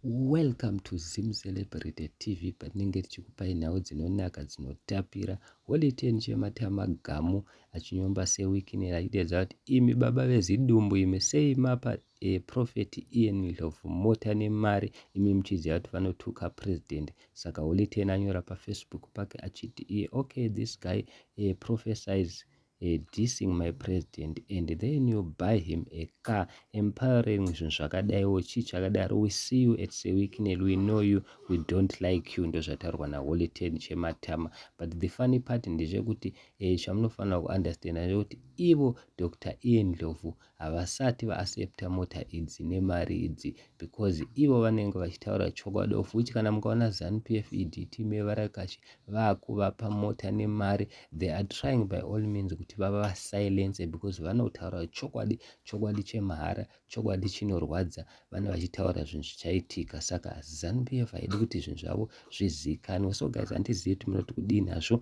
Welcome to Zim Celebrity TV patinenge tichikupai nhau dzinonaka dzinotapira. Holy Ten chematama gamu achinyomba sewikinera achiteedza kuti imi baba vezidumbu imi sei mapa e, prophet Ian Ndlovu mota nemari imi muchiziva kuti vanotuka president. Saka Holy Ten anyora pafacebook pake achiti iye okay this guy e, prophesize Her dissing my president and then you buy him a car empowering zvinhu zvakadaiwo chii chakadaro we see you at sewicknel we know you we don't like you ndozvataurwa naholy ten chematama but the funny part ndezvekuti e, chamunofanira kuunderstanda ndezvekuti ivo dr ian ndlovu havasati vaaccepta mota idzi nemari idzi because ivo vanenge vachitaura chokwadi of which kana mukaona zanupf ed team yevarakashi vakuvapa mota nemari they are trying by all means kuti vava vasilence because vanotaura chokwadi chokwadi chemahara chokwadi chinorwadza vane vachitaura zvinhu zvichaitika saka zanupf haidi kuti zvinhu zvavo zvizikanwe so guys handizivi kuti munoti kudii nazvo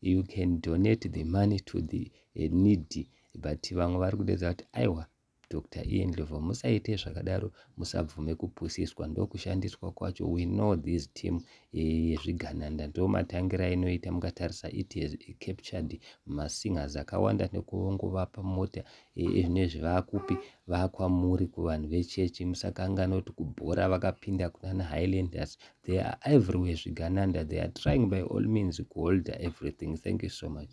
you can donate the money to the eh, needy but vamwe vari kudedza kuti aiwa dr ian lovo musaite zvakadaro musabvume kupusiswa ndokushandiswa kwacho we know this team eh, yezvigananda ndo matangira inoita mukatarisa it has captured masingers akawanda nekungovapa mota nezve vakupi vakwamuri kuvanhu vechechi musakanganwa kuti kubhora vakapinda kunana highlanders they are everywhere zvigananda they are trying by all means kuholder everything thank you so much